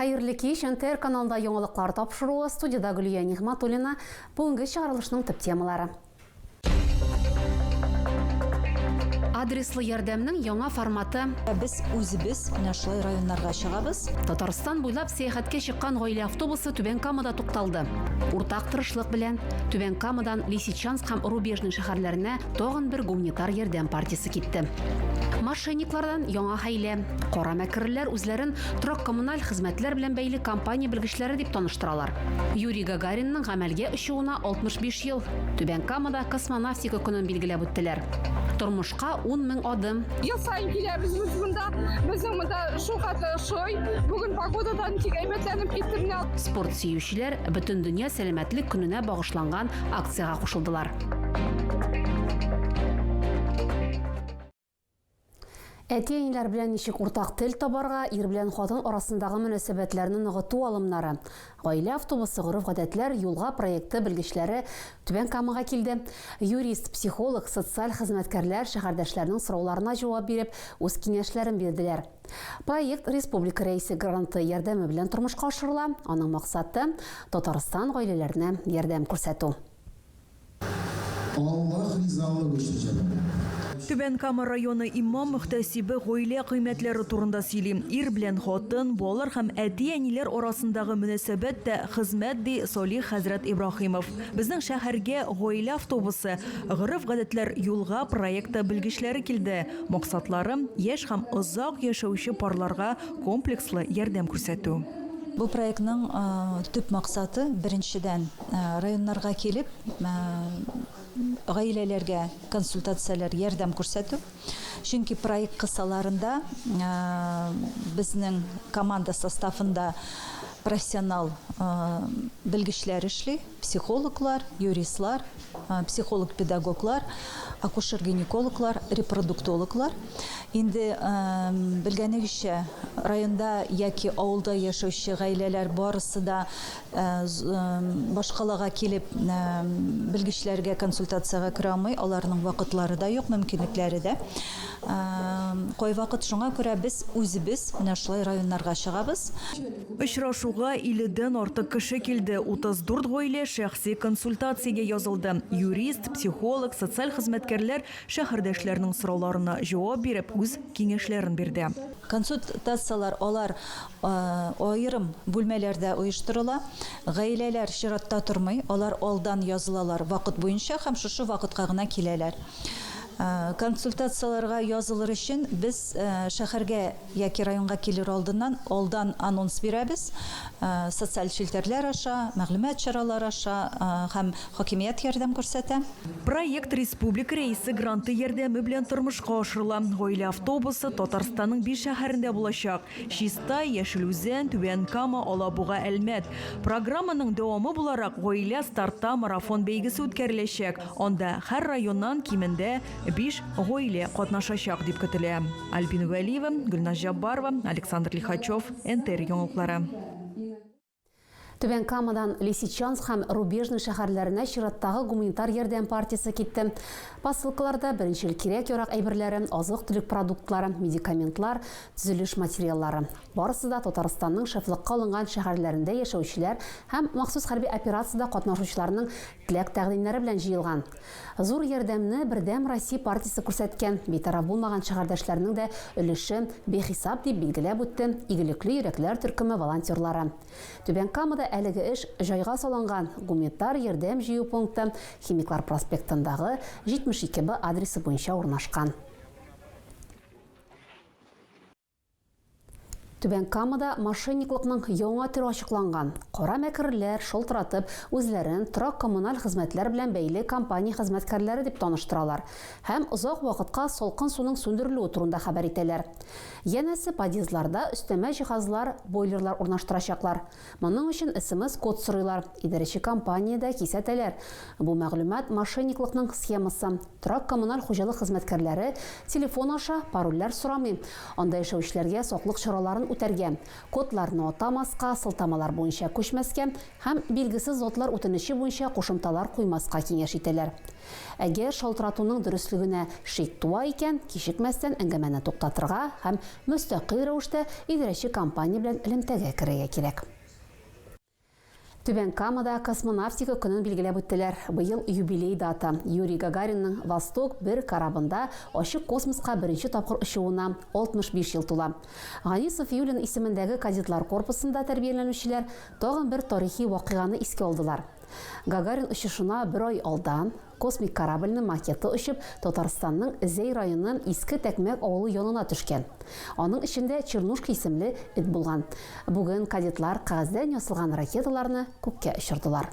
Хәерле кич! НТР каналында яңалыклар тапшыруы, студиядә Гөлия Нигъматуллина. Бүгенге чыгарылышның төп темалары. Адреслы ярдәмнең яңа форматы. Ә без үзебез менә шулай районнарга чыгабыз. Татарстан буйлап сәяхәткә чыккан гаилә автобусы Түбән Камада тукталды. Уртак тырышлык белән Түбән Камадан Лисичанск һәм Рубежный шәһәрләренә тагын бер гуманитар ярдәм партиясе китте. Мошенниклардан яңа хәйлә. Кара мәкерлеләр үзләрен торак-коммуналь хезмәтләр белән бәйле компания белгечләре дип таныштыралар. Юрий Гагаринның гамәлгә очуына 65 ел. Түбән Камада космонавтика көнен билгеләп үттеләр. Тормышка 10 мең адым. Ел саен киләбез без монда. Безнең монда шулкадәр ошый. Бүген погодадан тик әйбәтләнеп китте менә. Спорт сөючеләр Бөтендөнья сәламәтлек көненә багышланган акциягә кушылдылар. Әти-әниләр белән ничек уртак тел табарга, ир белән хатын арасындагы мөнәсәбәтләрне ныгыту алымнары. Гаилә автобусы гореф-гадәтләр юлга проекты белгечләре Түбән Камага килде. Юрист, психолог, социаль хезмәткәрләр шәһәрдәшләрнең сорауларына җавап биреп, үз киңәшләрен бирделәр. Проект республика рәисе гранты ярдәме белән тормышка ашырыла. Аның максаты, Татарстан гаиләләренә ярдәм күрсәтү. Аллаһ ризалыгы өчен җәберләнә. Түбән Кама районы имам-мөхтәсибе гаилә кыйммәтләре турында сөйли. Ир белән хатын, балалар һәм әти-әниләр арасындагы мөнәсәбәт тә хезмәт, ди Салих хәзрәт Ибраһимов. Безнең шәһәргә гаилә автобусы Гореф-гадәтләр юлга проекты белгечләре килде. Максатлары, яшь һәм озак яшәүче парларга комплекслы ярдәм күрсәтү. Бу проектның төп максаты, беренчедән, районнарга килеп, гаиләләргә консультацияләр, ярдәм күрсәтү. Чөнки проект кысаларында безнең команда составында профессионал белгечләр эшли, психологлар, юристлар, психолог-педагоглар, акушер-гинекологлар, репродуктологлар. Инде белгәнегезчә, районда яки авылда яшәүче гаиләләр барысы да Башкалага килеп белгечләргә консультациягә керә алмый, аларның вакытлары да юк, мөмкинлекләре дә. Кайвакыт шуңа күрә без үзебез менә шулай районнарга чыгабыз. Очрашуга 50 дән артык кеше килде, 34 гаилә шәхси консультациягә язылды. Юрист, психолог, социаль хезмәткәрләр шәһәрдәшләрнең сорауларына җавап биреп, үз киңәшләрен бирде. Консультацияләр алар Аерым бүлмәләрдә оештырыла. Гаиләләр чиратта тормый, алар алдан язылалар вакыт буенча һәм шушы вакытка гына киләләр. Консультацияләргә язылыр өчен без шәһәргә яки районга килер алдыннан алдан анонс бирәбез, социаль челтәрләр аша, мәгълүмат чаралары аша һәм хакимият ярдәм күрсәтә. Проект республика Рәисе гранты ярдәме белән тормышка ашырыла. Гаилә автобусы Татарстанның биш шәһәрендә булачак. Чистай, Яшел Үзән, Түбән Кама, Алабуга, Әлмәт. Программаның дәвамы буларак Гаилә старта марафон бәйгесе үткәреләчәк. Анда һәр районнан кимендә биш гаилә катнашачак дип көтелә. Альбина Вәлиева, Гөлназ Җаббарова, Александр Лихачев, НТР яңалыклары. Түбән Камадан Лисичанск һәм Рубежный шәһәрләренә чираттагы гуманитар ярдәм партиясе китте. Посылкаларда беренчел кирәк-ярак әйберләре, азык-төлек продуктлары, медикаментлар, төзелеш материаллары. Барысы да Татарстанның шефлыкка алынган шәһәрләрендә яшәүчеләр һәм махсус хәрби операциядә катнашучыларның Теләк тәкъдимнәре белән җыелган. Зур ярдәмне Бердәм Россия партиясе күрсәткән, битараф булмаган шәһәрдәшләрнең дә өлеше бихисап, дип билгеләп үтте Игелекле йөрәкләр төркеме волонтерлары. Түбән Камада әлеге эш җайга салынган, гумитар ярдәм җыю пункты Химиклар проспектындагы 72 Б адресы буенча урнашкан. Түбән Камада мошенниклыкның яңа төре ачыкланган. Кара мәкерләр шылтыратып, үзләрен торак-коммуналь хезмәтләр белән бәйле компания хезмәткәрләре дип таныштыралар һәм озак вакытка салкын суның сүндерелүе турында хәбәр итәләр. Янәсе, подъездларда өстәмә җиһазлар, бойлерлар урнаштырачаклар. Моның өчен смс-код сорыйлар, идарәче компания дә кисәтәләр. Бу мәгълүмат, мошенниклыкның схемасы. Торак-коммуналь хуҗалык хезмәткәрләре телефон аша парольләр сорамый, анда яшәүчеләргә саклык чараларын үтәргә, кодларны атамаска, сылтамалар буенча күчмәскә һәм билгесез затлар үтенече буенча кушымталар куймаска киңәш итәләр. Әгәр шалтыратуның дөреслегенә шик туа икән, кичекмәстән әңгәмәне туктатырга һәм мөстәкыйль рәвештә идарәче компания белән элемтәгә керергә кирәк. Түбән Камада Космонавтика көнен билгеләп үттеләр. Быел юбилей дата, Юрий Гагаринның Восток бер корабында ачык космоска беренче тапкыр очуына 65 ел тула. Гали Сафиуллин исемендәге кадетлар корпусында тәрбияләнүчеләр тагын бер тарихи вакыйганы искә алдылар. Гагарин очышына бер ай алдан, космик корабльнең макеты очып, Татарстанның Зәй районы Иске Тәкмәк авылы янына төшкән. Аның эчендә Чернушка исемле эт булган. Бүген кадетлар кәгазьдән ясалган ракеталарны күккә очырдылар.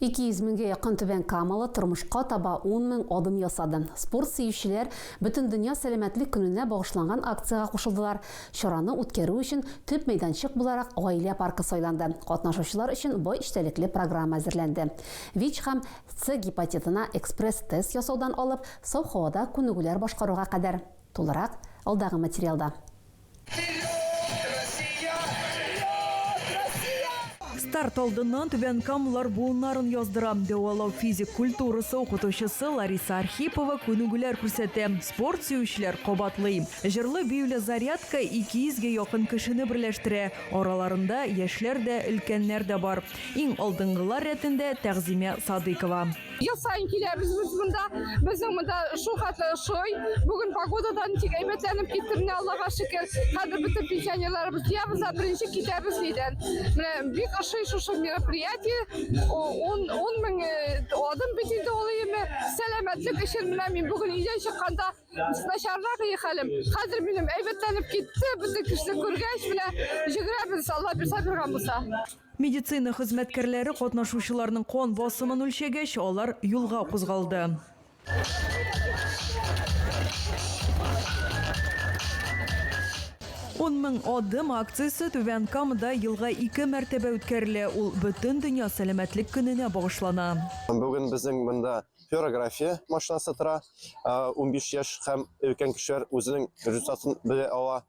200 меңгә якын Түбән Камалы тормышка таба 10 мең адым ясады. Спорт сөючеләр Бөтендөнья сәламәтлек көненә багышланган акциягә кушылдылар. Чараны үткәрү өчен төп мәйданчык буларак Гаилә паркы сайланды. Катнашучылар өчен бай эчтәлекле программа әзерләнде. ВИЧ һәм С гепатитына экспресс-тест ясаудан алып, саф һавада күнегүләр башкаруга кадәр. Тулырак, алдагы материалда. Старт алдыннан Түбән Камлар буыннарын яздыра. Дәвалау физик культурасы укытучысы Лариса Архипова күнегүләр күрсәтә, спорт сөючеләр кабатлый. Җырлы-биюле зарядка 200 гә якын кешене берләштерә, араларында яшьләр дә, өлкәннәр дә бар. Иң алдынгылар рәтендә Тәгъзимә Садыйкова. Ел сайын киләбез без монда. Безнең монда шул хәтле ошый. Бүген погодадан тик әйбәтләнеп китте менә Аллага шөкер. Хәзер бөтен пенсионерларыбыз ябыз, ә беренче китәбез нидән. Менә бик ошый шушы мероприятие. Он он мең адым бит инде ул име. Сәламәтлек өчен менә мин бүген өйдән чыкканда начаррак и хәлем. Хәзер минем әйбәтләнеп китте. Бөтен кешене күргәч менә җигрәбез Алла бирса биргән булса. Медицина хезмәткәрләре катнашучыларның кан басымын үлчәгәч, алар юлга кузгалды. Ун мең адым акциясе Түбән Камада елга ике мәртәбә үткәрелә, ул Бөтендөнья сәламәтлек көненә багышлана. Бүген безнең монда флюорография машинасы тора. Унбиш яшь һәм өлкән кешеләр үзенең результатын белә ала.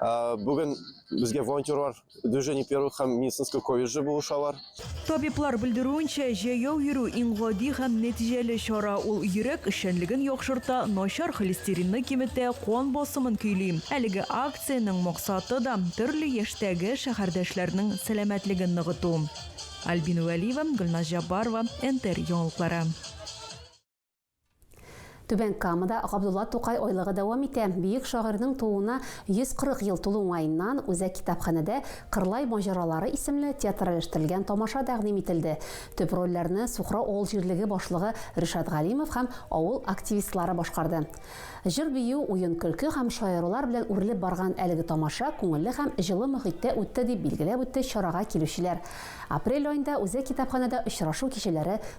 Э, Бүген безгә волонтерлар движение первых һәм медицинское колледжы булышалар. Табиблар белдерүенчә, җәяү йөрү иң гади һәм нәтиҗәле чара. Ул йөрәк эшчәнлеген яхшырта, начар холестеринны киметә, кан басымын көйли. Әлеге акциянең максаты да төрле яшьтәге шәһәрдәшләрнең сәламәтлеген ныгыту. Альбина Вәлиева, Гөлназ Җаббарова, НТР яңалыклары. Түбән Камада Габдулла Тукай айлыгы дәвам итә. Бөек шагыйрьнең тууына 140 ел тулу уңаеннан үзәк китапханәдә Кырлай маҗаралары исемле театральләштерелгән тамаша тәкъдим ителде. Төп рольләрне Сухрау авыл җирлеге башлыгы Ришат Галимов һәм авыл активистлары башкарды. Җыр-бию, уен-көлке һәм шаярулар белән үрелеп барган әлеге тамаша күңелле һәм җылы мохиттә үтте, дип билгеләп үтте чарага килүчеләр. Апрель аенда үзәк китапханәдә очрашу кичәләре